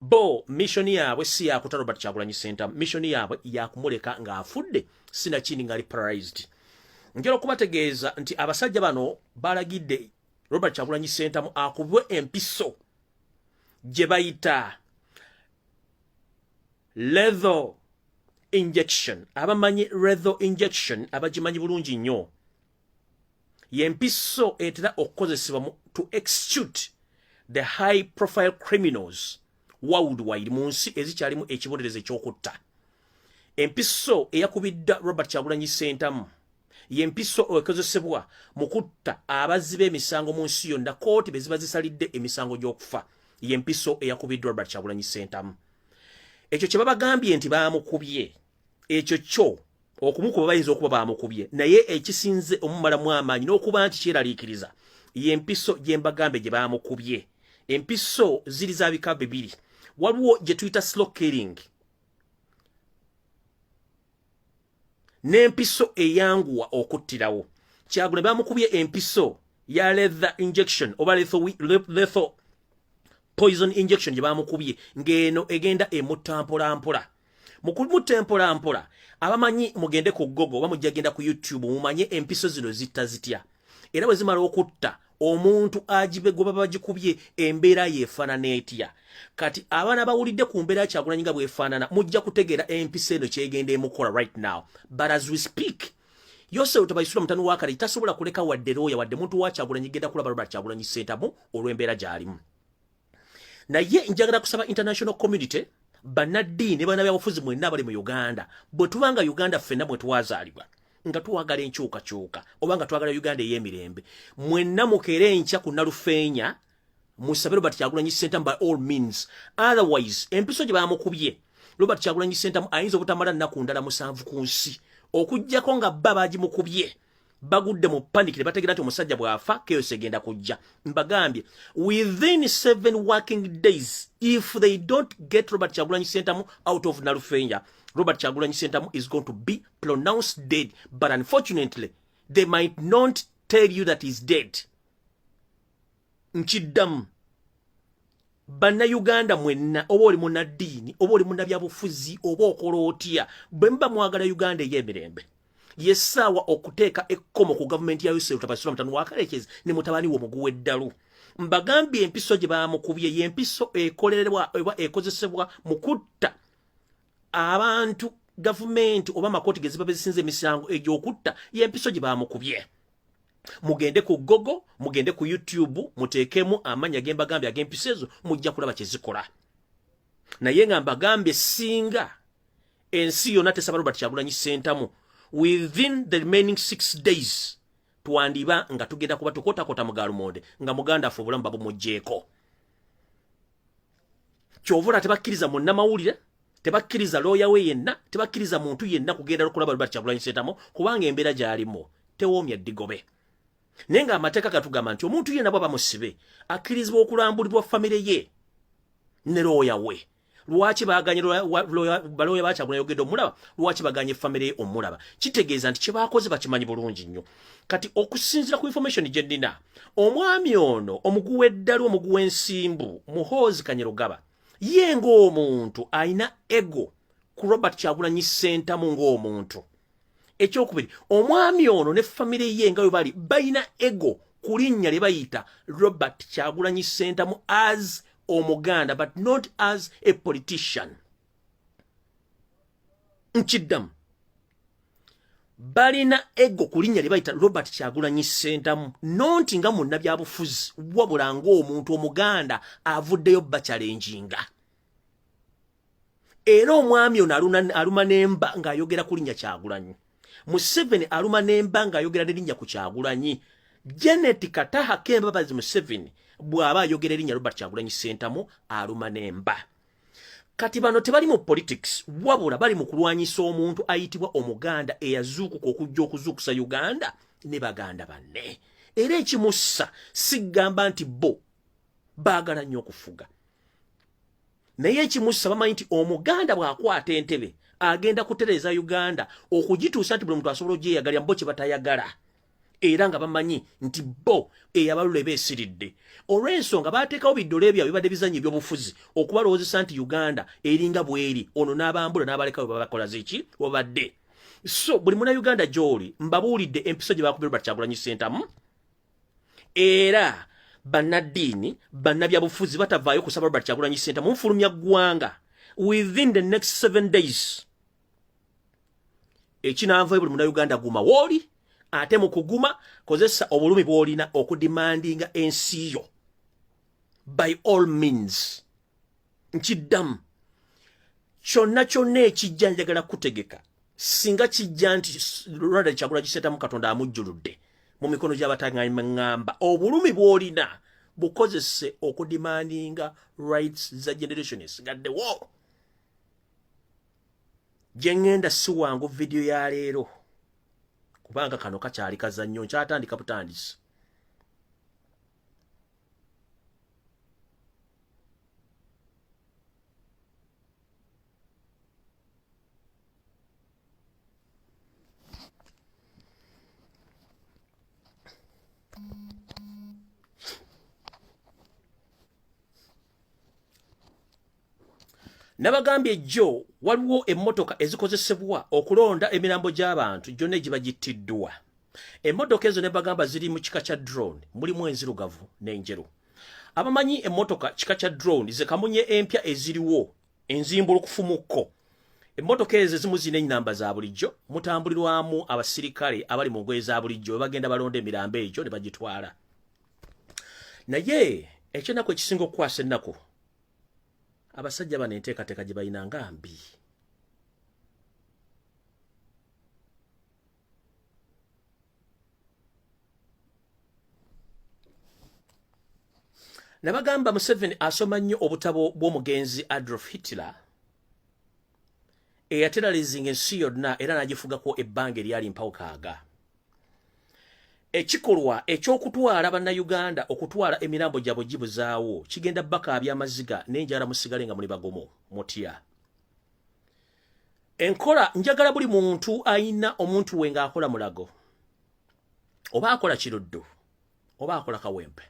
bo mission yaabwe si yakuta robert kyagulanyi center mission yaabwe yakumuleka ng'afudde sinakindi ngali paralyzed njala okubategeeza nti abasajja bano balagidde robert kyagulanyi center mu akubwe empiso gye bayita letho injection abamanyi retho injection abagimanyi bulungi nnyo yempiso etera okukozesebwa to execute the high profile criminals worldwide mu nsi ezikyalimu ekibonerezo ekyokutta empiso eyakubidda robert kyagulanyi sentamu yempiso ekozesebwa mu kutta abazzi b'emisango mu nsi yonna kooti be ziba zisalidde emisango gy'okufa yempiso eyakubiddwa robert kyagulanyi sentamu ekyo kye babagambye nti baamukubye ekyo kyo okumukuba bayinza okuba bamukubye naye ekisinze omumalamu amaanyi n'okuba nti kyeraliikiriza yempiso gyembagambe gye bamukubye empiso ziri za bika bibiri waliwo gye tuyita slow killing n'empiso eyanguwa okuttirawo kyagula bamukubye empiso ya lethe injection oba letho poison injection gye bamukubye ng'eno egenda emutta mpolampola mpola. mukumutta empola mpola abamanyi mugende ku gogo oba mujja genda ku youtube mumanye empiso zino zitta zitya era bwe zimala okutta omuntu agibegoba bagikubye embeera yeefaanana etya kati abaana bawulidde ku mbeera kyagulanyi nga bwefaanana mujja kutegeera empiso eno kyegenda emukola right now but as we speak yosefu tebayisula mutani wakale tasobola kuleka wadde looya wadde muntu wakyagulanyi genda kulaba robert kyagulanyi sentamu olw'embeera gy'alimu naye njagala kusaba international community banaddiini ne banabyabufuzi mwenna abali mu uganda bwe tubanga uganda ffenna mwe twazaalibwa nga twagala enkyukakyuka oba nga twagala uganda ey'emirembe mwenna mukeera enkya ku nalufeenya musabe robert kyagulanyi sentamu by all means otherwise empiso gye bamukubye robert kyagulanyi sentamu ayinza obutamala nnaku ndala musanvu ku nsi okugyako nga bba baagimukubye bagudde mu panic ne bategeera nti omusajja bw'afa chaos egenda kujja mbagambye within seven working days if they don't get robert kyagulanyi sentamu out of nalufenya robert kyagulanyi sentamu is going to be pronounced dead but unfortunately they might not tell you that he's dead nkiddamu bannayuganda mwenna oba oli munaddiini oba oli munabyabufuzi oba okola otya bwe muba mwagala uganda ey'emirembe yesaawa okuteeka ekkomo ku gavumenti ya yusuf tabasula mutano wakarekyezi ne mutabani wo muguwa eddalu mbagambye empiso gye bamukubye y'empiso ekolerwa oba ekozesebwa mu kutta abantu gavumenti oba amakooti ge ziba bezisinza emisango egy'okutta y'empiso gye bamukubye mugende ku gogo mugende ku youtube muteekemu amanya gembagambye agempisa ezo mujja kulaba kyezikola naye nga mbagambye singa ensi yona tesaba robert kyagulanyi sentamu within the remaining six days twandiba nga tugenda kuba tukotakota mugalumonde nga muganda afe obulamu babumujjeeko kyovula tebakkiriza munnamawulire tebakkiriza looya we yenna tebakkiriza muntu yenna kugenda lukulaba lubati kyagulanyi sentamu kubanga embeera gyalimu tewoomya ddigobe naye nga amateeka gatugamba nti omuntu yenna bwaba musibe akkirizibwa okulambulibwa famire ye ne looya we lwaki baganye balooya bakyagulayogedde omulaba lwaki baganye famire ye omulaba kitegeeza nti kyebakoze bakimanyi bulungi nnyo kati okusinzira ku information gye nnina omwami ono omuguwa eddalu omuguwa ensimbu muhoozi kanyerugaba ye ng'omuntu alina ego ku robert kyagulanyi sentamu ng'omuntu ekyokubiri omwami ono ne famire ye nga we bali balina ego ku linnya lye bayita robert kyagulanyi sentamu as omuganda but not as a politician nkiddamu balina ego ku linnya lye bayita robert kyagulanyi sentamu nonti nga munnabyabufuzi wabula ng'omuntu omuganda avuddeyo bakyalenjinga era omwami ono aluma nemba ng'ayogera ku linnya kyagulanyi museveni aluma nemba ng'ayogera ne linnya ku kyagulanyi janet kataha kembabazi museveni bw'aba ayogera erinnya robert kyagulanyi sentamu aluma nemba kati bano tebali mu politics wabula bali mu kulwanyisa omuntu ayitibwa omuganda eyazuukuka okujja okuzuukusa uganda ne baganda banne era ekimussa sigamba nti bo baagala nnyo okufuga naye ekimussa bamanyi nti omuganda bw'akwata entebe agenda kutereeza uganda okugituusa nti buli muntu asobola ogyeyagalira mubo kye batayagala era nga bamanyi nti bo eyabalula eba esiridde olw'ensonga baateekawo biddole byabwe bibadde bizannya ebyobufuzi okubalowoozesa nti uganda eringa bweri ono n'abambula n'abalekawe babakola zeki obadde so buli muna uganda gy'oli mbabuulidde empiso gye baakubira bat kyagulanyi sentamu era bannaddiini bannabyabufuzi batavaayo kusaba robert kyagulanyi sentamu nfulumya ggwanga within the next seven days ekinanva ebuli muna Uganda guma woli ate mukuguma kozesa obulumi bwolina okudimandinga ensi yo by all means nkiddamu kyonna kyonna ekijja njagala kutegeka singa kijja nti Ronald Kyagula kisetamu Katonda amujjuludde mu mikono gy'abatangangamba obulumi bwolina bukozese okudimandinga rights za generation esigaddewo gyengenda siwangu vidiyo ya leero kubanga kano kakyali kazannyo nkyatandika butandisi nabagambye jjo waliwo emmotoka ezikozesebwa okulonda emirambo gy'abantu gyonna egibagittiddwa emmotoka ezo nebagamba ziri mu kika kya drone mulimu enzirugavu n'enjeru abamanyi emmotoka kika kya drone zekamunye empya eziriwo enzimbulukufumukko emmotoka ezo ezimu zirina ennamba za bulijjo mutambulirwamu abasirikale abali mu ngoye za bulijjo webagenda balonda emirambo egyo ne bagitwala naye ekyenaku ekisinga okukwasa ennaku abasajja bano enteekateeka gye balina nga mbi nabagamba museveni asoma nnyo obutabo bw'omugenzi adolf hitler eyateralizinga ensi yonna era n'agifugako ebbanga eryali mpawukaaga ekikolwa eky'okutwala bannayuganda okutwala emirambo gyabwe gibuzaawo kigenda bakaabya amaziga n'enjala musigale nga muli bagomo mutya enkola njagala buli muntu ayina omuntu we ng'akola mulago oba akola kiruddu oba akola kawempe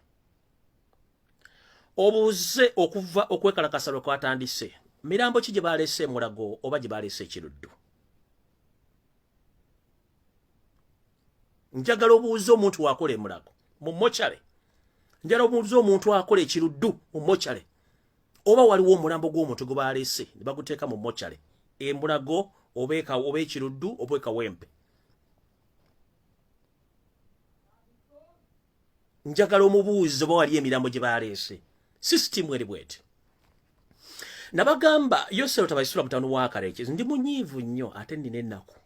obuuze okuva okwekalakasa lwe kwatandise mirambo ki gye baleese emulago oba gye baleese ekiruddu njagala obuuza omuntu wakola emulago mu mochale njala obuuza omuntu akola ekiruddu mu mochale oba waliwo omulambo gw'omuntu gwe baleese ne baguteeka mu mochale embulago oba ekiruddu oba ekawempe njagala omubuuzi oba wali emirambo gye baleese sisitimu eri bweti nabagamba yosero tabaisula mutano wa kareke ndi munyiivu nnyo ate nina ennaku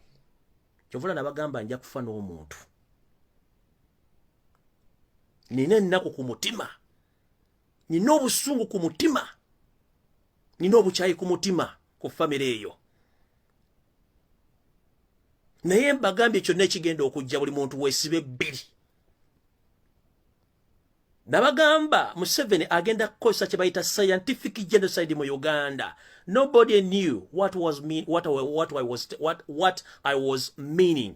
kyovula nabagamba nja kufa n'omuntu nina ennaku ku mutima nina obusungu ku mutima nina obukyayi ku mutima ku famire eyo naye mbagambye kyonna ekigenda okujja buli muntu wesibe bbiri nabagamba museveni agenda kukozesa kyebayita scientific genocide mu uganda nobody knew what was mean, what, what, what, what, what i was meaning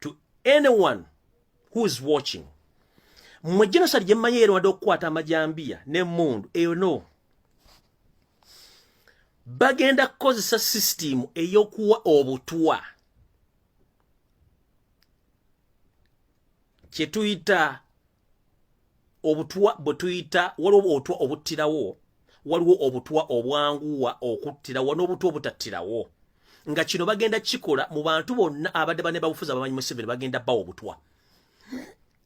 to anyone who is watching mwe genocide gye mmanyi erwadde okukwata amajambiya n'emmundu eyo no bagenda kukozesa sisitimu ey'okuwa obutwa kye tuyita obutwa bwe tuyita waliwo obutwa obuttirawo waliwo obutwa obwanguwa okuttirawo n'obutwa obutattirawo nga kino bagenda kikola mu bantu bonna abadde bane babufuzi abamanyi museveni bagenda bawa obutwa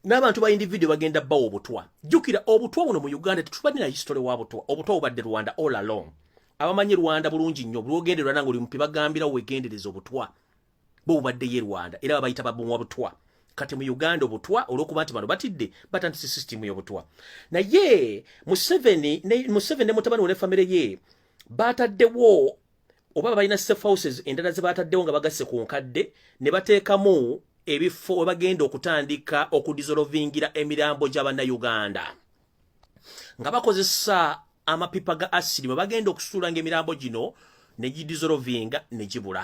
n'abantu ba individio bagenda bawa obutwa jjukira obutwa buno mu uganda tetubalina history wa butwa obutwa bubadde rwanda all along abamanyi rwanda bulungi nnyo bulwogenderwa nange oli mupi bagambirawo wegendereza obutwa bo bubadde ye Rwanda era babayita babuwa butwa kati mu Uganda obutwa olwokuba nti bano batidde batandise system y'obutwa naye Museveni ne Museveni ne mutabani we ne family ye bataddewo oba balina safe houses endala ze bataddewo nga bagasse ku nkadde ne bateekamu ebifo we bagenda okutandika okudizolovingira emirambo gya bannayuganda nga bakozesa amapipa ga asidi bwe bagenda okusuulanga emirambo gino ne gidizolovinga ne gibula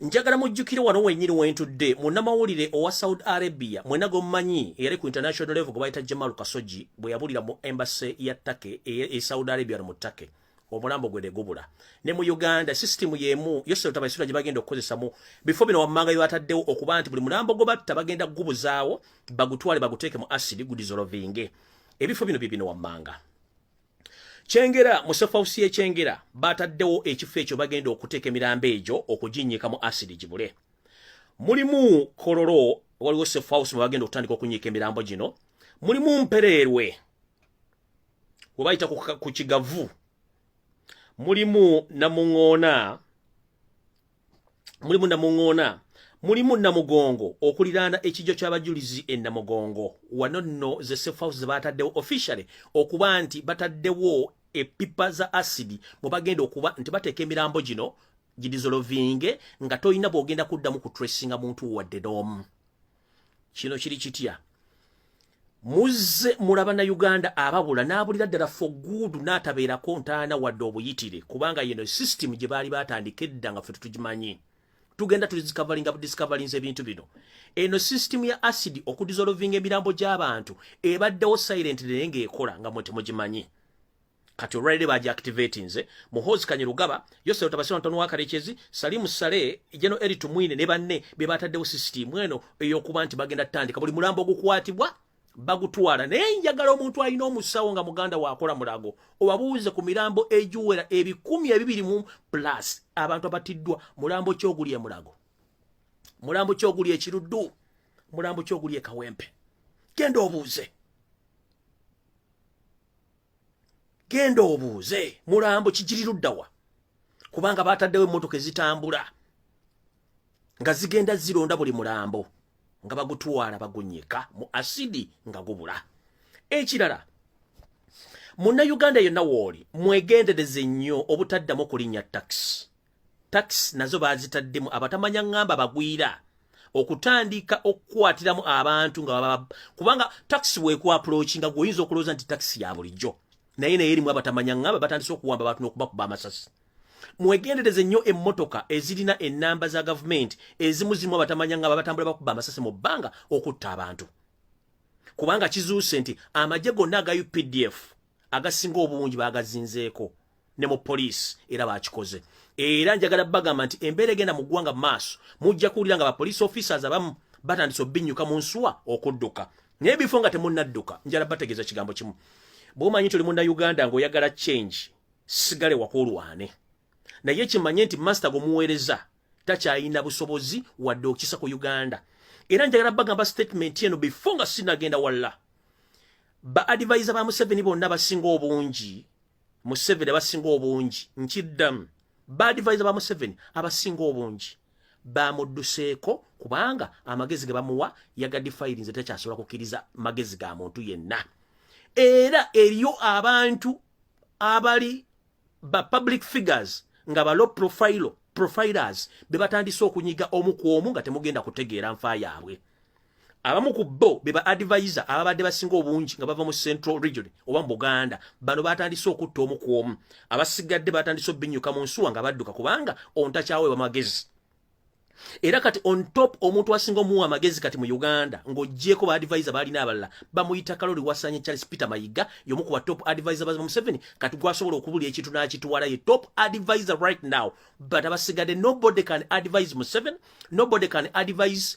njagala mujjukire wano wenyini wentudde munnamawulire owa saudi arabia mwena gwomumanyi eyali ku international level gwe bayita jamal kasoji bwe yabulira mu embase ya take e, e saudi arabia no mu take omulambo gwe negubula ne mu uganda system yemu yose otabaisura gye bagenda okukozesa mu bifo bino wammanga yo ataddewo okuba nti buli mulambo gwe batta bagenda kugubuzaawo bagutwale baguteeke mu asidi gudizolovinge ebifo bino bye bino wammanga kyengera mu sefausi yekyengera bataddewo ekifo ekyo bagenda okuteeka emirambo egyo okuginnyika mu asidi gibule mulimu kololo waliwo sefausi mwe bagenda okutandika okunyiika emirambo gino mulimu mpereerwe webayita ku kigavu mulimu namuŋoona mulimu namuŋoona mulimu namugongo okuliraana ekijjo ky'abajulizi e namugongo wano nno ze sefhouse ze baataddewo officially okuba nti bataddewo epipa za asidi mwe bagenda okuba nti bateeka emirambo gino gidizolovinge nga tolina bw'ogenda kuddamu ku tracinga muntu wadde n'omu kino kiri kitya muzze mulaba na uganda ababula n'abulira ddala foguudu n'atabeerako ntaana wadde obuyitire kubanga yeno sisitimu gye baali batandika edda nga ffe tutugimanyi tugenda tulidiscoveringa budiscoverinza ebintu bino eno sisitimu ya asidi okudizolovinga emirambo gy'abantu ebaddewo silent naye ng'ekola nga mwe temugimanyi kati olwalire baji activatinze muhozi kanye lugaba yose otabasira ntonu wa karekezi salimu sale jeno eri tumwine ne banne be bataddewo system eno eyokuba nti bagenda tandika buli mulambo ogukwatibwa bagutwala naye njagala omuntu alina omusawo nga muganda wakola mulago obabuuze ku mirambo egiwera ebikumi ebibiri mu plus abantu abatiddwa mulambo kyoguli e mulago mulambo kyoguli ekiruddu mulambo kyoguli e kawempe genda obuuze genda obuuze mulambo kigiriruddawa kubanga baataddewo emmotoka ezitambula nga zigenda zironda buli mulambo nga bagutwala bagunyika mu asidi nga gubula ekirala munnayuganda yenna wooli mwegendereze nnyo obutaddamu okulinnya takisi tax nazo bazitaddemu abatamanya ngamba bagwira okutandika okukwatiramu abantu nga baba kubanga tax weku approach nga goyinza okuloza nti tax ya bulijjo naye naye erimu abatamanya ngamba batandise okuwamba abantu nokuba kuba amasasi mwegendereze nnyo emmotoka ezirina enamba za gavumenti ezimu zirimu abatamanya ngamba batambula bakuba amasasi mu bbanga okutta abantu kubanga kizuuse nti amagye gonna aga updf agasinga obungi bagazinzeeko ne mu poliisi era bakikoze era njagala bagamba nti embeera egenda mu ggwanga mu maaso mujja kuwulira nga bapoliisi officers abamu batandise obinnyuka mu nsuwa okudduka naye bifo nga temunnadduka njala bategeeza kigambo kimu bwomanyi nti oli munda uganda ng'oyagala change sigale wakulwane naye kimanye nti masita gwomuweereza takyayina busobozi wadde okisa ku uganda era njagala bagamba statement eno bifo nga sinagenda walla ba adivisa ba museveni bonna basinga obungi museveni abasinga obungi nkiddamu baadivaiza ba museveni abasinga obungi bamudduseeko kubanga amagezi ge bamuwa yagadifayirinze takyasobola kukkiriza magezi ga muntu yenna era eriyo abantu abali ba public figures nga ba low profile profilers be batandise okunyiga omu ku omu nga temugenda kutegeera nfa yaabwe abamu ku bo be ba advisor ababadde basinga obungi nga bava mu central region oba mu buganda bano batandise okutta omu ku omu abasigadde batandise obinyuka mu nsuwa nga badduka kubanga ontakyaweebwa magezi era kati on top omuntu asinga omuwa amagezi kati mu uganda ng'ogyeko ba advisor baalina abalala bamuyita kalori wasanye charles peter mayiga yomu ku ba top advisor baza museveni kati gwasobola okubula ekintu n'akituwala ye top advisor right now but abasigadde nobody can advise museveni nobody can advise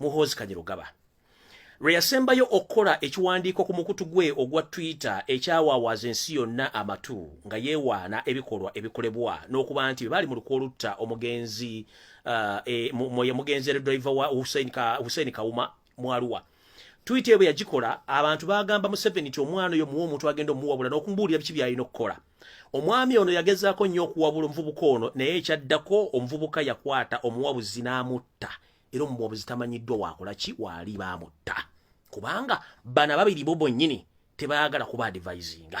muhoozi kanyirugaba lwe yasembayo okukola ekiwandiiko ku mukutu gwe ogwa twitter ekyawawaaza ensi yonna amatu nga yeewaana ebikolwa ebikolebwa n'okuba nti bye baali mu lukwa olutta omugenzi uh, e, mwe mugenzi era driver wa hussein kawuma mwaluwa twitter ebwe yagikola abantu bagamba museveni nti omwana oyo muwa omuntu agenda omuwabula n'okumubuulira biki byalina okukola omwami ono yagezaako nnyo okuwabula omuvubuka ono naye ekyaddako omuvubuka yakwata omuwabuzi n'amutta era omuwabuzi tamanyiddwa waakola ki waali baamutta kubanga bana babiri bo bonyini tebaagala kuba adivisinga